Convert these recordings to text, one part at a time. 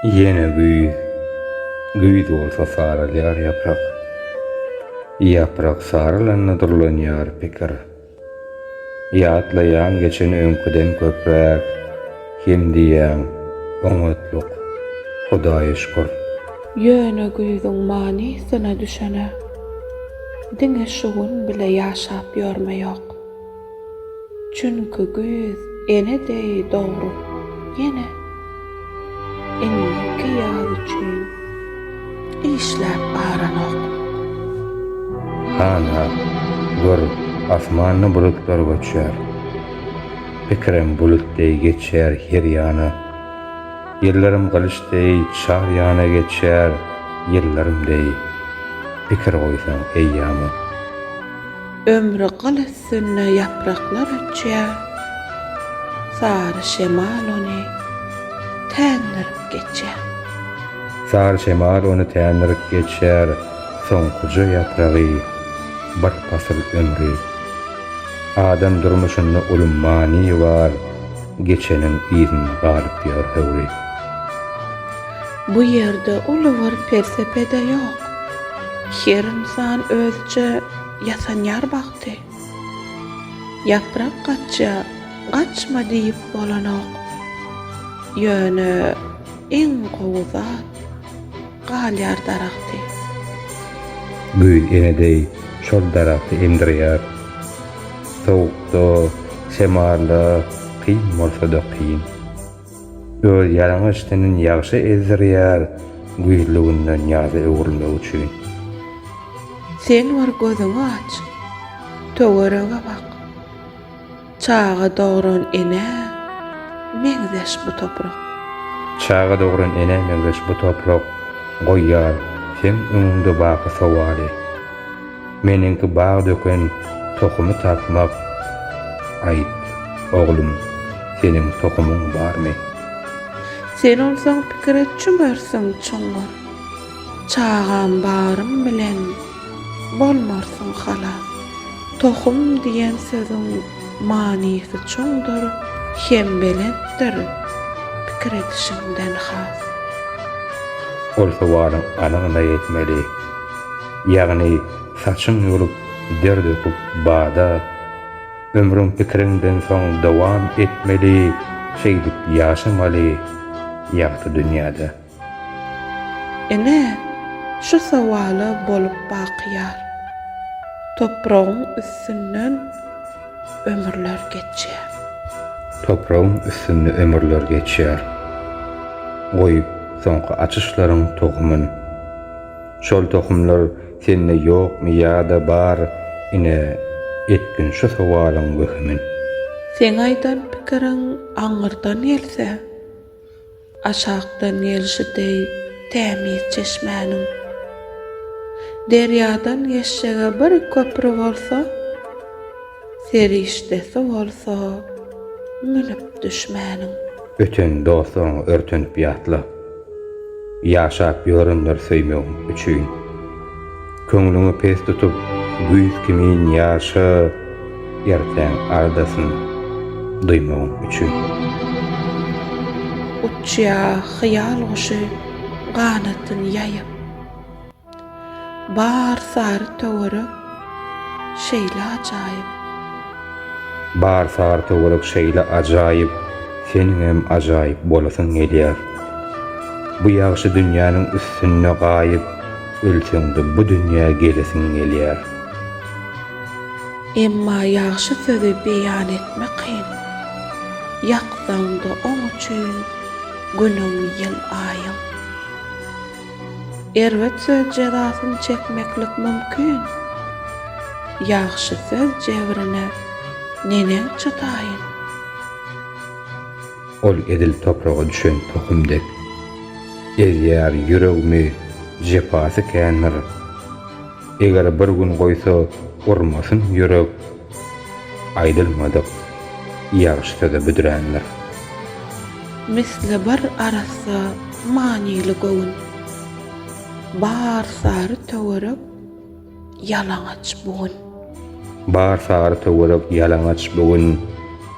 Ýene güýz. Güýz bolsa saralýar ýaprak. Ýaprak saralanda durlanýar pikir. Ýatlaýaň geçen öňküden köpräk, hem diýýäň, oňatlyk, Hudaýa şükür. Ýöne güýzüň manysyna düşene, diňe şu gün bile ýaşap ýörme ýok. Çünki güýz ene deý dogrup ýene indiki ýaz üçin işläp baranok. Hana, gör, asmanda bulutlar göçýär. Pikirem bulut deý geçýär her ýana. Ýyllarym gylyç deý çar ýana geçýär, ýyllarym deý. Pikir goýsaň eýýama. Ömri gyl üstünde ýapraklar öçýär, Sary şemal ony tändirip geçýär. Sary şemal ony tändirip geçýär, Soňkuja ýapragy, bir pasyl ömri. Adam durmuşynda uly many bar, Geçeniň yzynda galyp ýör höwri. Bu ýerde uly bir pelsepe-de ýok, Her ynsan özüçe Ýasanýar bagty. Ýaprak gaçýa, gaçma diýip bolanok. Ýöne iň gowy zat, galýar daragty. Güýz ene deý şol daragty emdirýär. Sowukda, şemalda, kyn bolsa-da kyn. Öz ýalaňaç tenin ýagşy ezdirýär Güýzli günden ýaza öwrülmek üçin. Sen bir gözüňi aç, töwerege bak, Çaga dogran enä meňzeş bu toprak. Çaga dogran enä meňzeş bu toprak Goýýar seň öňüňde baky sowaly. Meniňki bag döken tohumy tapmak Aýt, oglum, seniň tohumyň barmy? Sen onsoň pikire çümersiň çuňňur. Çagam barym bilen bolmarsyň halas. Tohum diýen sözüň manysy çuňdur hem belentdir, pikir edişiňden has. Ol sowalyň anygyna ýetmeli. Ýagny saçyň ýolup, der döküp bada, Ömrüň pikiriňden soň dowam etmeli, Şeýdip ýaşamaly ýagty dünýäde. Ene, şu sowala bolup bakyýar, Topragyň üstünden ömürler geçýär. Topragyň üstünde ömürler geçýär, Goýup soňky açyşlaryň tohumyn. Şol tohumlar sende ýokmy ýa-da bar, ine, etgin şu sowalyň wehimini. Seň aýdan pikiriň aňyrdan gelse, aşakdan gelşi deý tämiz çeşmäniň. Derýadan geçjege bir köpri bolsa. Serişdesi bolsa münüp düşmäniň. Öten dostlaryňy örtenip ýatla. Ýaşap ýörendir söýmegiň üçin. Köňlüňi pes tutup, güýz kimin ýaşa, ertäň ardasyn duýmagyň üçin. Uçýar hyýal guşy ganatyn ýaýyp. Bar sary töwerek şeýle ajaýyp. Bar sary töwerek şeýle ajaýyp, seniňem ajaýyp bolasyň gelýär. Bu ýagşy dünýäniň üstünde gaýyp, ölseňde bu dünýä gelesiň gelýär. Emma ýagşy sözi beýan etmek kyn. Ýaksaňda oň üçin günüň, ýyl, aýyň. Erbet söz jezasyny çekmeklik mümkin. Ýagşy söz jebrine neneň çytaýyn. Ol edil topraga düşen tohum dek. Ezýär ýüregimi jepasy kändir. Eger bir gün goýsa urmasyn ýürek Aýdylmadyk ýagşy söze büdrändir. Misli bir arassa manyly göwün Bar sary töwerek ýalaňaç bu gün. Bar sary töwerek ýalaňaç bu gün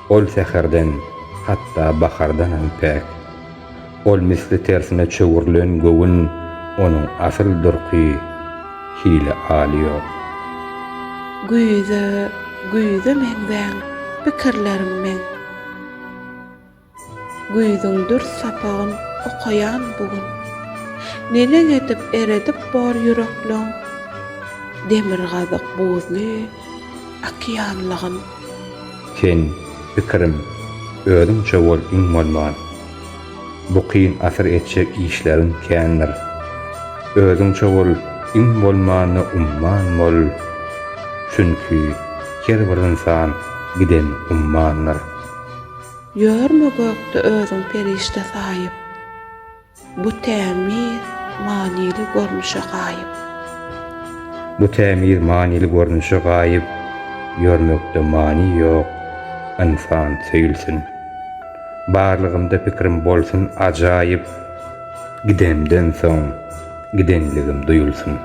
Ol säherden, hatda bahardanam päk. Ol misli tersine çöwrülen göwün onuň asyl durky hili alýar. Güýze, güýze meňzäň pikirlerim meň. Güýzüň dürs sapagyn okaýan bu gün. Neneň edip eredip bor ýürekleň demirgazyk buzly. Okeanlygym. Sen, pikirim, özüňçe bol iň bolman. Bu kyn asyr etjek işleriň kändir. Özüňçe bol iň bolmanda umman bol. Çünki her bir ynsan giden ummandyr. Ýörme gökde özüň perişde saýyp. Bu tämiz, manyly görnüşe gaýyp. Bu tämiz, manyly görnüşe gaýyp, Ýörmekde many ýok, ynsan söýülsin. Barlygymda pikrim bolsun ajaýyp, Gidemden soň, gidenligim duýulsyn.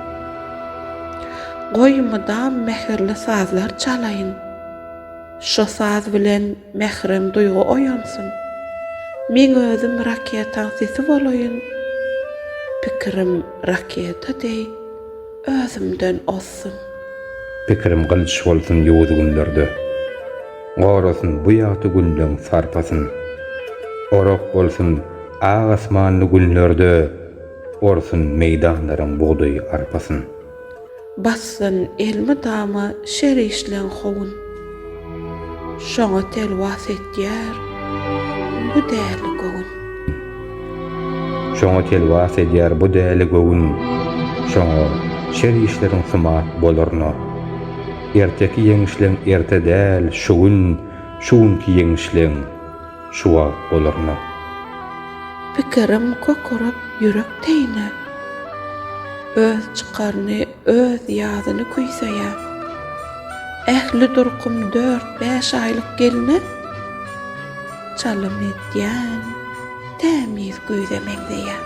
Goý, mydam mähirli sazlar çalaýyn. Şo saz bilen mährem duýgy oýansyn, Meň özüm raketaň sesi bolaýyn, Pikirim raketa deý özümden ozsun. Pikirim gylyç bolsun ýowuz günlerde, Gorasyn bu ýagty günleň sarpasyn. Orak bolsun ak asmanly günlerde, Orsun meýdanlaryň bugdaý arpasyn. Bassyn elmydama şer işleň howun. Şoňa telwas edýär bu däli göwün. Şoňa telwas edýär bu däli göwün. Şoňa şer işleriň symat bolarna. Erteki ýeňişleň erte däl, şu gün, şu günki ýeňişleň. Şu wagt bolarmy? Pikirim kökürip ýürek teýine. Öz çykaryny, öz ýazyny küýseýär. Ähli durkum dört-bäş aýlyk gelne çalym edýän tämiz güýze meňzeýär.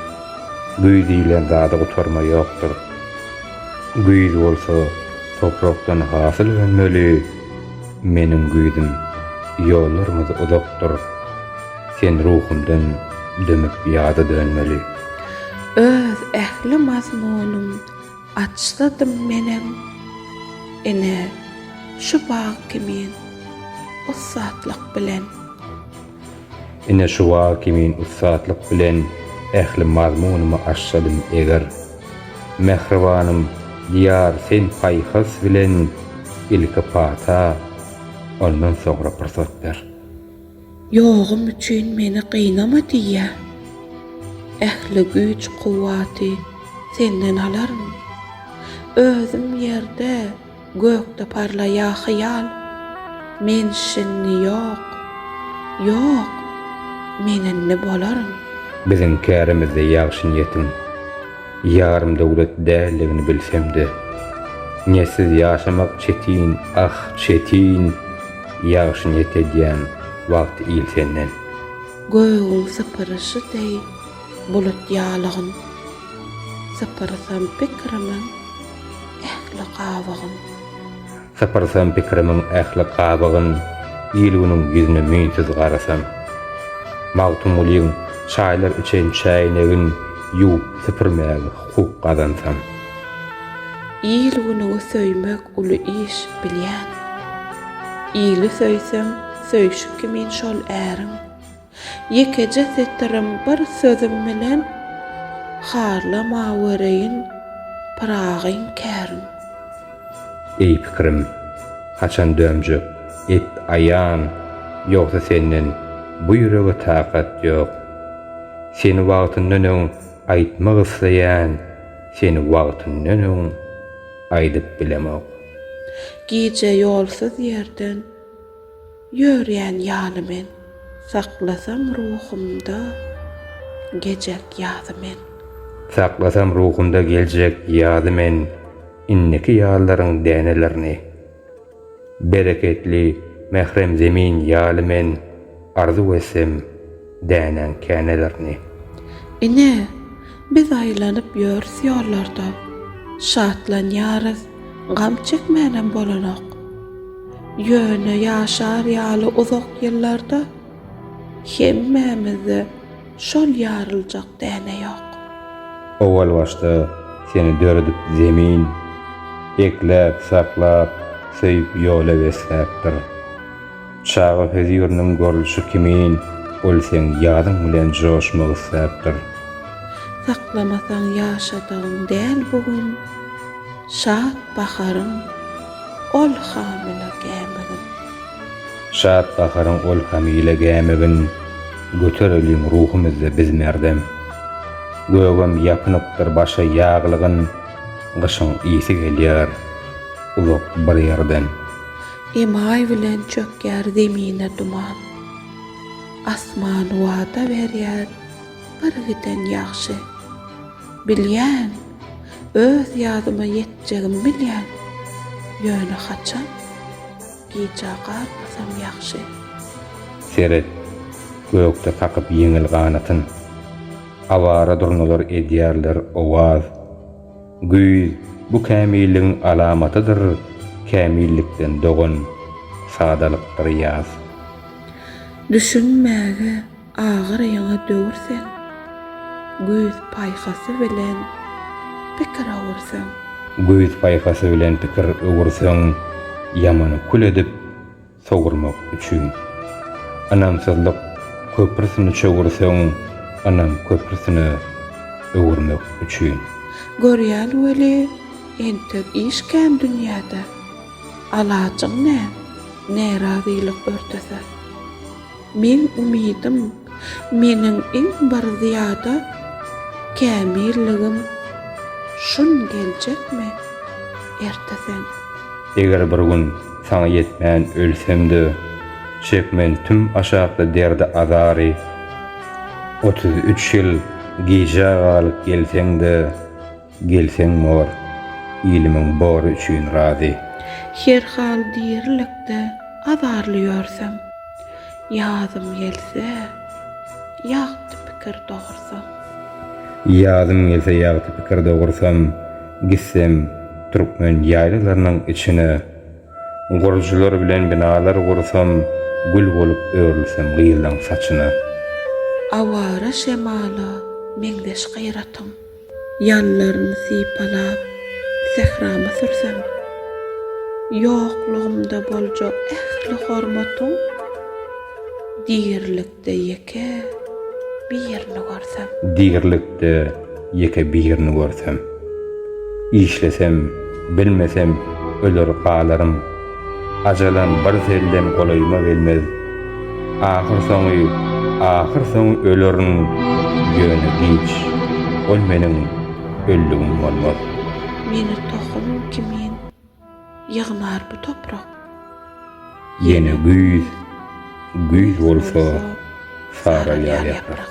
Güýz diýlen zada gutarma ýokdur. Güýz bolsa toprakdan hasyl önmeli. Meniň güýzüm, ýollarymyz uzakdyr. Sen ruhumdan dömüp ýada dönmeli. Öz ähli mazmunym açsadym menem, ine, şu bag kimin ussatlyk bilen. Ine şuwa kimin ussatlyk bilen ähli mazmunymy aşşadym eger. Mähribanym Diýar sen paýhas bilen ilki pata, ondan soňra pursat ber. Ýogum üçin meni gynama diýýä. Ähli güýç-kuwwaty senden alaryn. Özüm ýerde. Gökde parlaýa hyýal, Men şindi ýok, ýok, men indi bolaryn. Biziň kärimizde ýagşy niýetiň ýarym döwlet däldigini bilsemde, niýetsiz ýaşamak çetin, ah, çetin, ýagşy niýet edýän wagt il senden. Gögüň sypyryşy deý bulut ýalygyn, sypyrsam pikirimiň ähli gabygyn. Sypyrsam pikirimiň ähli gabygyn, il-günüň ýüzüne müýnsüz garasam. Magtymgulyň Çaýlar üçin çäýnegin ýuwup süpürmäge hukuk gazansam. Il-günüňi söýmek uly iş, bilýän. Ili söýseň, söýşi kimin şol äriň. Ýekeje setirim bir sözüm bilen harlamawereýin Pyragyň kärin. Eý pikirim, haçan dönjek, et aýan, Ýogsa senden bu ýürege takat ýok. Seni wagtyndan öň aýtmak isleýän, Seni wagtyndan öň aýdyp bilemok. Gije ýolsuz ýerden Ýörýän ýaly men, Saklasam ruhumda gecek ýazy men. Saklasam ruhumda geljek ýazy men Indiki ýazlaryň dänelerini. Bereketli, mährem zemin ýaly men Arzuw etsem, Dänäň känelerini. Ine, biz aýlanyp ýörüs ýollarda, Şatlanýarys, gam çekmänem bolanok. Ýöne ýaşar ýaly uzak ýyllarda, Hemmämizde şol ýaryljak däne ýok. Owal başda seni döredip Zemin, Ekläp, saklap, söýüp ýola besläpdir. Çaga höziriniň görlüşi kimin, ol seň ýadyň bilen joşmak isläpdir. Saklamasaň ýaşadygyň däl bu gün, Şat baharyň ol hamyla gämigin. Şat baharyň ol hamyla gämigin, Götereliň ruhumyzda biz merdem. Gögem ýapynypdyr başa ýaglygyn, Gyşyň ysy gelýär uzak bir ýerden. Emaý bilen çökýär zemine duman. Asman wada berýär birgiden ýagşy. Bilýän, öz ýazyma ýetjegimi bilýän, ýöne haçan, gijä galmasam ýagşy. Seret, gökde kakyp ýeňil ganatyn. Awara durnalar edýärler owaz. Güýz, bu kämilligiň alamatydyr, kämillikden dogan, sadalykdyr ýaz. Düşünmäge agyr ýaňa döwürseň, güýz paýhasy bilen pikir öwürseň. Güýz paýhasy bilen pikir öwürseň, ýamany kül edip, sowurmak üçin. Ynamsyzlyk köprüsini çöwürseň, ynam köprüsine öwürmek üçin. Görýän weli, entek iş kän dünýäde. Alajyň näm, närazylyk örtese. Meň umydym Meniň iň bir zyýada kämilligim şun geljekmi erte sen. Eger bir gün saňa ýetmän ölsem-de, çekmen tüm aşakly derdi-azary, otuz üç ýyl gijä galyp gelseň-de. Gelseň mor, ilimiň bory üçin razy. Her hal dirilikde azarly ýörsem. Ýazym gelse, ýagty pikir dogursam. Ýazym gelse ýagty pikir dogursam, gitsem türkmen ýaýlalarynyň içine, gurujylar bilen binalar gursam, gül bolup örülsem gyzlaň saçyna. Awara şemala meňzeş gyratym. Ýanlaryny sypalap, sährama sürsem, Ýoklugymda boljak ähli hormatyň, Dirilikde ýeke birini görsem. Dirilikde ýeke birini görsem. Işlesem, bilmesem, öler galaryn. Ajalam birsellem golaýyma gelmez. Ahyrsoňy, ahyrsoňy ölerin, ýöne giç. Ol meniň öldügim bolmaz. Meni tohum kimin ýygnar bu toprak. Ýene güýz, güýz bolsa saralýar ýaprak.